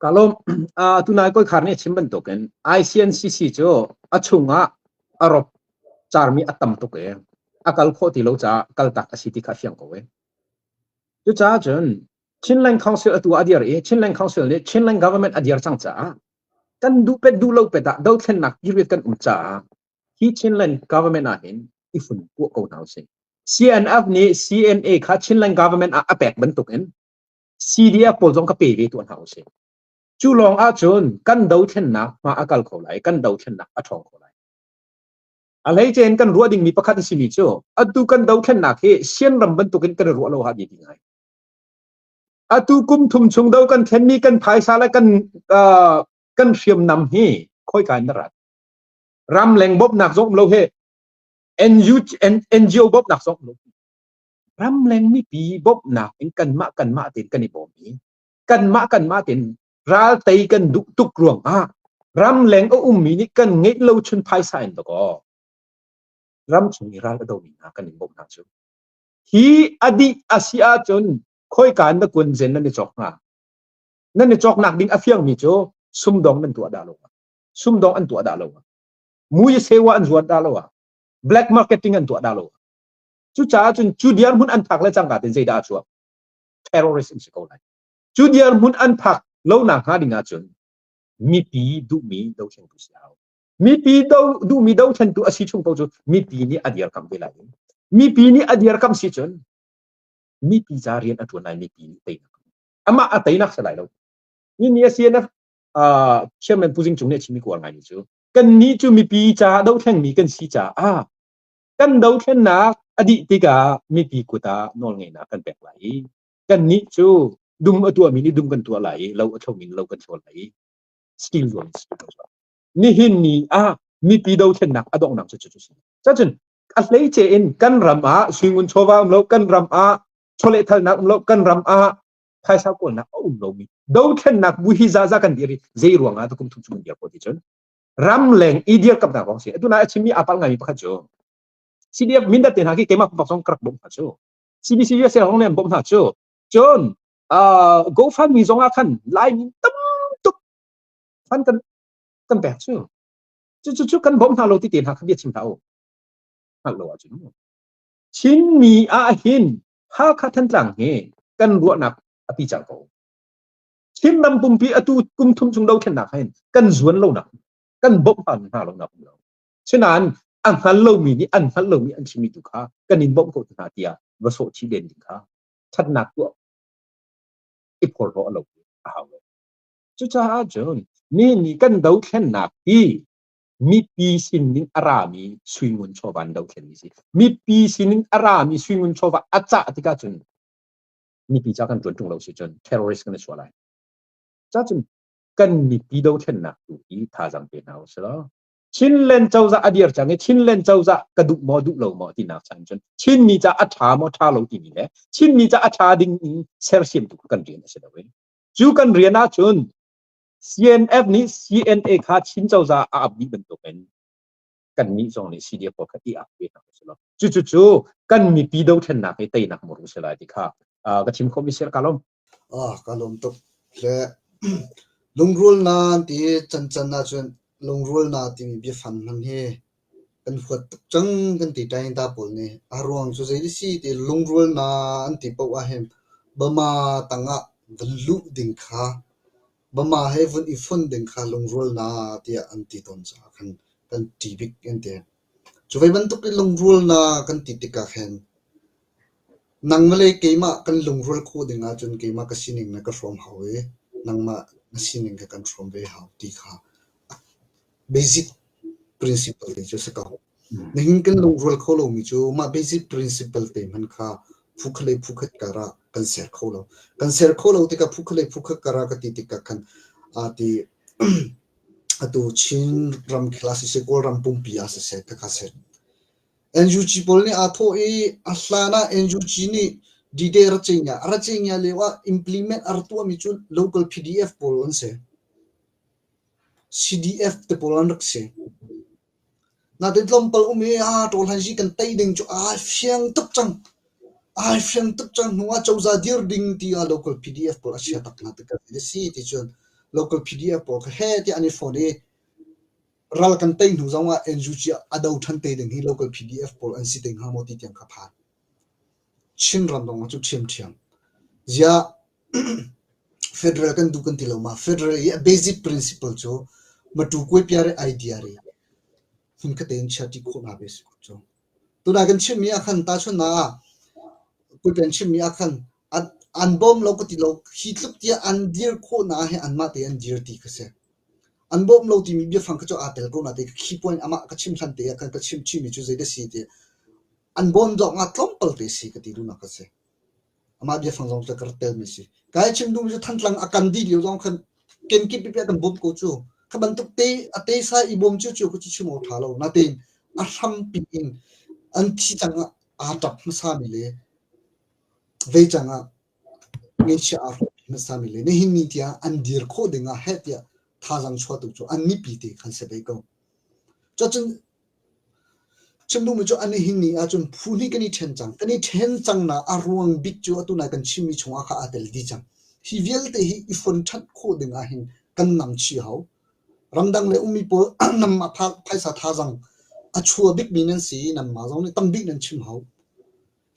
kalom atu nai koi khar ni chim bantuk in ICNCC cu a chung ah a rop charmi a tam tuk e a kal khawh ti lo ca kal tak a si ti kha fiang ko e cucaah cun Chinland Council atu a dir i Chinland Council nih Chinland government a dir cang caah kan duh pet duh lo pet ah dothlennak period kan um caah hi Chinland government ah hin i fun kuah ko hna usih CNF nih CNA kha Chinland government ah a pek bantuk in CDF pawl zong ka pe ve tuan hau si. Cu lawng ahcun kan dothlennak hma a kal kho lai, kan dothlennak a ṭhawng kho lai. A hleice in kan ruah dingmi pakhat a simi cu, atu kan dothlennak hi sian ram bantukin kan i ruah lo ha dih ding ai. Atu kum thum chung do kan thlenmi kan phaisa le kan uh, kan hriamnam hi khoi in na rat. Ram leng bawmnak zong lo he NGO bawmnak zong lo ramleng mipi bawmhnak in kanmah kanmah tein kan i bawm i kanmah kanmah tein ral tei kan duh tuk ruangah ramleng a ummi nih kan ngeih lo chun phaisa in dakaw ramchung i ral a domi hna kan in bawmhnak cu hi adih a si ahcun khoika na kun zen nan i chok hnga nan i choknak ding a fiangmi cu sumdong nan tuah dah lo sumdong an tuah dah lo mui sewa an zuat dah lo black marketing an tuah dah lo Cucaah cun cu dirhmun an phak le cangka tin zeidah a chuak terrorist in si ko lai cu dirhmun an phak lonak hnga ding ahcun mipi duhmi dothlentu si hau mipi do duhmi dothlentu a si chung ko cu mipi nih a dirkam ve lai mipi nih a dirkam si cun mipi za rian a tuan lai mipi nih teinak amah a teinak si lai lo ni ni a CNF chairman Pu Zing Cung nih a chimmi kuar ngai ni cu kan ni cu mipi caah dohlengmi kan si caah kan dothlennak a dih tikah mipi kut ah nawlngeihnak kan pek lai i kannih cu dum a tuahmi nih dum kan tuah lai i lo a thomi nih lo kan thawl lai i stil zuam si ko nihin ni ah mipi dothlennak a donghnak cu cu si cacun a hleice in kan ram ah singun chawva um lo kan ram ah chawlehthalnak um lo kan ram ah phaisa kawlnak a um lomi dothlennak bu hi zaza kan dir i zei ruangah ta kum thum chung kan dir ko ti cun ramleng i dirkamnak kong si atu na a chimmi apal ngaimi pakhat cu CDF mindat te hna khi keimah pumpak song karak bawm hna cu CBC USA kong nih an bawm hna cu cun uh, GoFundMe zong ah khan Laimi tam tuk fan kan kan pek cu cu cu kan bawm hna lo ti te hna kha bia chim ta u hngalh lo ahcun Chinmi ah hin Hakha Thantlang hi kan ruahnak a pi cang ko Chin ram pumpi atu kum thum chung dothlennak hin kan zuan lonak, kan bawmh hna lonak um lo. Sinain a hngal lomi nih an hngal lomi an chimmi tu kha kan in bawmh ko hna tiah va sawh chih len ding kha thatnak tuah i phorhlaw a lo a hau lo. Cucaah cun mi nih kan dothlennak hi mipi sinin a rami suingun chawva an dothlen mi si. Mipi sinin a rami suingun chawva a cah tikah cun mipi ca kan tuan ṭung lo si cun terrorist kan i suah lai. Cacun kan mipi dothlennak tu hi thazaang pe hna u sih Chinland cozah a dir cang i Chinland cozah ka duh maw duh lo maw tinak cang cun Chinmi ca a ṭha maw ṭha lo timi le Chinmi ca a ṭha ding in sersiam tu kan rian a si lo cu kan rian ahcun CNF nih CNA kha Chin cozah a ap dih bantukin kan nih zong nih CD ko kan i ak ve nak si lo cu cu cu kan mipi dothlennak hi teinak mur si lai ti kha ka thim khom isel ka lom ah ka lom tuk le lungrul na ti chan chan na chun lungrul na ti mi bia fan mang hi kan huat tuk chang kan ti tai ta pol ni a ruang chu zei si ti lungrul na an ti po a hem bama tanga dan lu ding kha Mama he vun i fon ding kha lungrual na tiah an ti tawn caah khan kan ṭi bik an ti. Cu ve bantuk in lungrual na kan ti tikah khan nang le keimah kan lungrual khawh ding ahcun keimah ka sining na ka hrawm hau i nangmah na sining kha kan hrawm ve hau ti kha a basic principle hi cu a si ko. Nihin kan lungrual kho lomi cu mah basic principle te hman kha phukhat le phukhat karah kan ser kho lo. Kan ser kho lo tikah phukhat le phukhat karah ka ti tikah khan aa ti atu Chin ram khela siseh Kawlram pumpi ah siseh takha ser. NUG pawl nih aa thawh i a hlan ah NUG nih D-Day Rachinga Rachinga leo ah implement ar tuahmi cu local PDF pawl an si. CDF te pawl an rak si. Natein tlawmpal um i aa ṭawlhlansi kan tei ding cu ai fiang tuk cang. Ai fiang tuk cang. Hnu ah cozah dir ding tiah local PDF pawl a chia tuk hna tikah a si ticun local PDF pawl kha heh tiah an i fon i ral kan tei hnu zongah NUG ah a do ṭhan te ding hi local PDF pawl an si te hnga maw ti tiang kha phan. Chinram zongah cu ṭhiamṭhiam. Ziah Federal kan duh kan ti lo ma federal i a basic principle cu matu kuaipia re idea re hmun kate in chia ti khawh na ve si cu tuna kan chimmi ah khan ta chun na kuipen chimmi ah khan an bawm lo ka ti lo hi tluk tia an dir khawh na he an mah te an dir ti ka se an bawm lo ti mi bia fang ka cho a tel ko na te key point ama ka chim hlan te khan ka chim chi mi chu zei da si te an bawm dong a tlom pal te si ka ti du na ka se amah biafang zong cu ka rat telmi si kai chim duhmi cu thantlang a kan dih lio zong khan kenkip pipi kan bawmh ko cu kha bantuk te a te sa i bawm cu cu cu chim tha lo natin a hrampi in an thi cang aa tap hmasa mi le vei cang ah ngesia aa hmasa mi le ne hin ni tiah an dir khawh ding ah heh tiah thazang chuah tu cu an nipi te khan se vei ko cacun Cun nungmi cu a nihin ni ah cun phu hnih kan i ṭhen cang. Kan i ṭhen cangnak a ruang bik cu atu nai kan chimmi chungah kha aa tel dih cang. Hi vialte hi i fonṭhanh khawh ding ahhin kan namchih hau. Ramdang le ummi pawl nam a tha, phaisa thazang a chua bikmi nan si i nanmah zong nih tambik nan chim hau.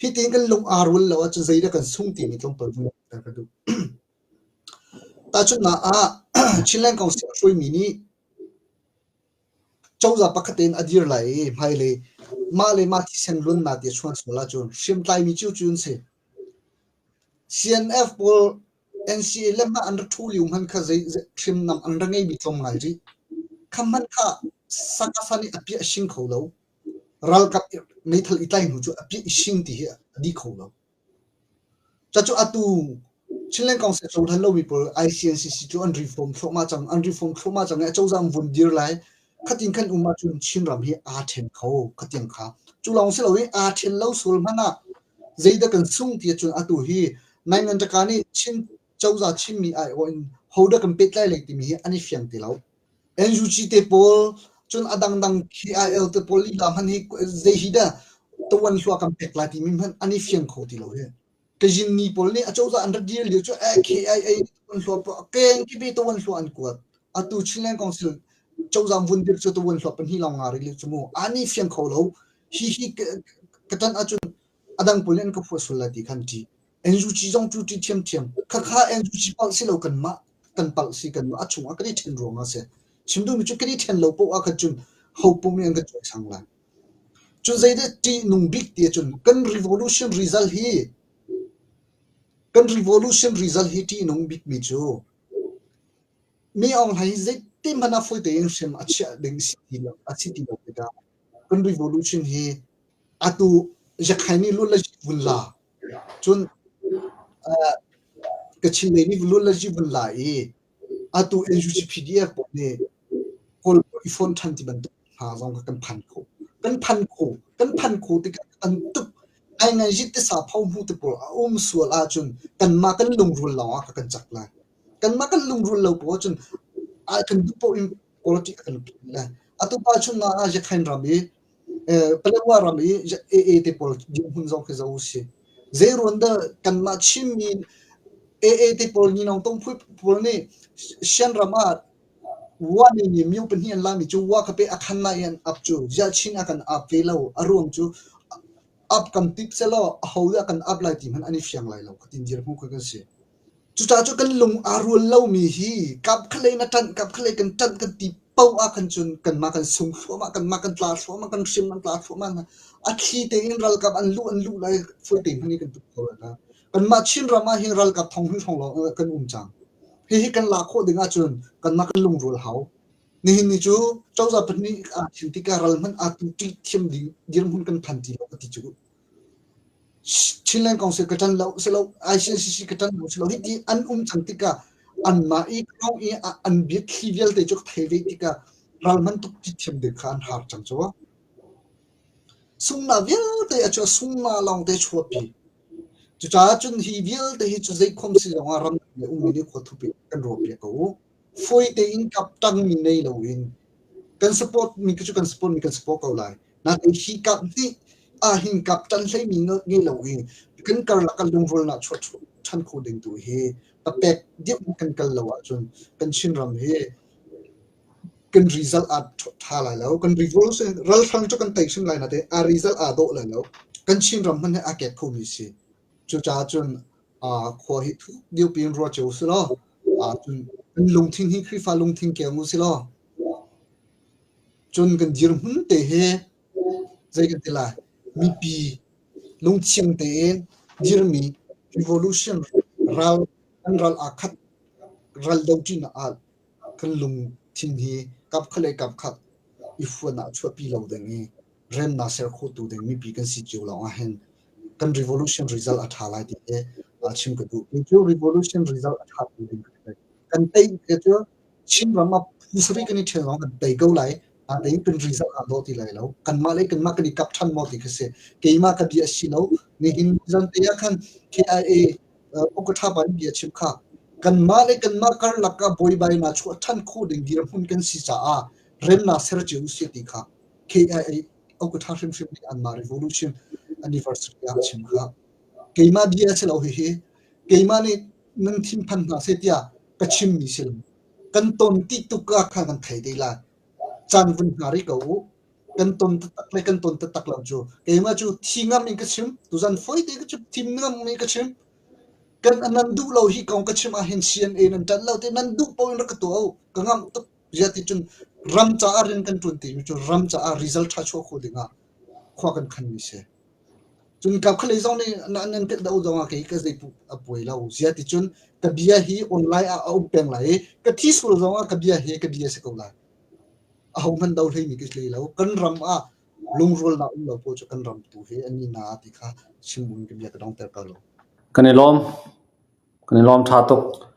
Hitiin kan lung aa rual lo ahcun zeidah kan sung timi tlawmpal hmuhter ka duh. Tahchunhnak ah, Chinland Council a hruaimi nih cozah pakhat in a dir lai i hmailei mah le mah thisen lunnak ti a chuan sual ahcun hriamtlaimi cu cu an si CNF pawl NCA le mah an ra ṭhu lio hmanh kha zei hrimnam an ra ngeimi tlawm ngai rih kha hmanh kha sakafa nih a piah a shing kho lo ralkap meithal i tlai hnu cu a piah i shing ti hi a di kho lo Cacu atu Chinland Council cohlan lomi pawl ICNCC cu an reform thluahmah cang an reform thluahmah cang i acozah an vun dir lai khatin kan um ahcun Chinram hi aa ṭhen kho khatiang kha cu lawng si loin aa ṭhen lo sual hmanh ah zeidah kan sung ti ahcun atu hi Nai Ngan Ṭaka nih Chin cozah chimmi aiawh in hodah kan pehtlai lai timi hi an i fiang ti lo. NUG te pawl cun a dangdang KIL te pawl lila hmanh hi zei hi dah tawan hlua kan pek lai timi hmanh an i fiang kho ti lo hi Kajin ni pawl nih acozah an ra dir lio cu eh KIA tawan hlua a keng ki be tawan hlua an kuat atu Chinland Council cozang vun dir cu tawan hlua pan hi long nga ri le chu mu ani fiang kho lo hi hi katan acun a dang pun in ka phuah sual lai ti khan ṭih. NUG zong cu ṭih ṭhiamṭhiam. Khakha NUG palh si lo kanmah kan palh si kanmah a chung ah kan i ṭhen ruang ah si. Chim duhmi cu kan i ṭhen lo poah ah khan cun hopum in an ka cuai sang lai. Cun zeidah ṭihnung bik ti cun kan revolution result hi kan revolution result hi ṭihnung bikmi cu mi ong hlei zeitin hmanh ah fawi tein hrem a chiah ding si ti lo a si ti lo tikah kan rihnu luchin hi atu yakhain ni lul la vun la cun kachin lei ni lul la vun la i atu NUCPDF pawl nih kawl i phone than ti bantuk hna zong kan phan kho kan phan kho kan phan kho ti kan tuk ai ngai jit te sa phau hnu te pol a um sual a chun kan ma kan lung rul lawng ka kan chak la kan ma kan lung rul lo po chun a kan du po in politics kan na atu pa chun na a jakhain ram i paletwa ram i AA te politics hun zong khi zo si ze ruanda kan ma chim mi AA te pol ni nong tong phui pol ni shan rama wa ni ni miu pen hi an la mi chu wa ka pe akhan na yan up chu ja chin akan up ve lo aruang chu up kam tip selo a ho kan up lai ti man ani fiang lai lo ka tin jir phu ka si Cucaah cu kan lung aa rual lomi hi kap khalei na ṭanh kap khalei kan ṭanh kan ti poh ah khan cun kanmah kan sung thluahmah kanmah kan tla thluahmah kan hrim an tla thluahmah hna a thli tein ralkap an luh an luh lai fulte hmani kan tuk kho hna kanmah Chin ram ah hin ralkap thong hun thong lawng kan um cang hihi kan la khawh ding ahcun kanmah kan lungrual hau nihin ni cu cozah pahnih ah thil tikah ral hmanh atu ṭih thiam ding dirhmun kan phan ti lo ka ti cu Chinland Council ka ṭan lo si lo, ICCC ka ṭan lo si lo. Hiti an um cang tikah anmah i kong i an biathli vialte cu ka thei ve tikah ral man tuk thiam ding kha an har cang cu. Sungma vialte a cu sungma lawng te chuapi. Cucaah cun hi vialte hi cu zeikhom si zongah ram um mi nih khua thupi kan ruapi ko u. fawi tein kaptanmi nei loin kan support mi cu kan support mi kan support ko lai nain hi kap nih a hin kaptan hleimi nge lo in kan karlak kan lungrual na chuah than kho ding tu hi papek dip kan kal lo ahcun kan chinram hi kan result a tha lai lo kan result se ral hrang chu kan tei sin lai na te a result a do lai lo kan chinram man he a kek kho mi si Cucaah cun khua hi thuk dirpi in ruat cio selaw cun kan lungthin hi Khrihfa lungthin keng u selaw cun kan dirhmun te hi zei kan ti lai mipi lungthiang tein dirmi revolution ral an ral aa khat ral do ṭinak ah kan lungthin hi kap khat le kap khat i fuan ah chuahpi lo ding i remnak ser khotu ding mipi kan si cio lawng ah hin kan revolution result a tha lai ti he a chim ka duh cu revolution result a tha tu ding kan tei ke cu Chin ram a phusari kan i ṭhen lawng kan tei ko lai a tei kan result a do ti lai lo kan mah le kan mah kan i kap ṭhan mo ti ka se keima ka bia si lo ni hin zan te ya khan KIA Okatha ban bia chim kha kan mah le kan mah kar laka boi bai na chu than khu ding dir mun kan si cha a rem na ser chiu si ti kha KIA okutha hrimhrim nih anmah revolution anniversary ah chim kha keimah bia si lo hihi keimah nih nan thinphan hna se tiah ka chim mi si kan ton ti tuka kha kan thei dei lai chan vun hna ri ko u kan ton tatak le kan ton tatak lo chu keima chu thi ngam in ka chim tuzan foi te ka chim thim ngam mi ka chim kan anan duh lo hi kong ka chim ah hin cna nan tan lo te nan duh po in ra ka to ka ngam tuk riat in cun ram caah rian kan ṭuan timi cu ram caah result ṭha chuah khawh dingah khua kan khanmi si cun kap khalei zong nih nan tet do zong ah kei ka zei a puai lo zia ti cun ka bia hi online ah a um peng lai i ka thi sul zong ah ka bia hi ka bia si ko lai a ho hman do hlei mi ka hlei lo kan ram ah lungrual na um lo po cu kan ram tu he ani na ti kha chimbun ka bia ka dong ter kal lo kan i lom kan i lom tha tuk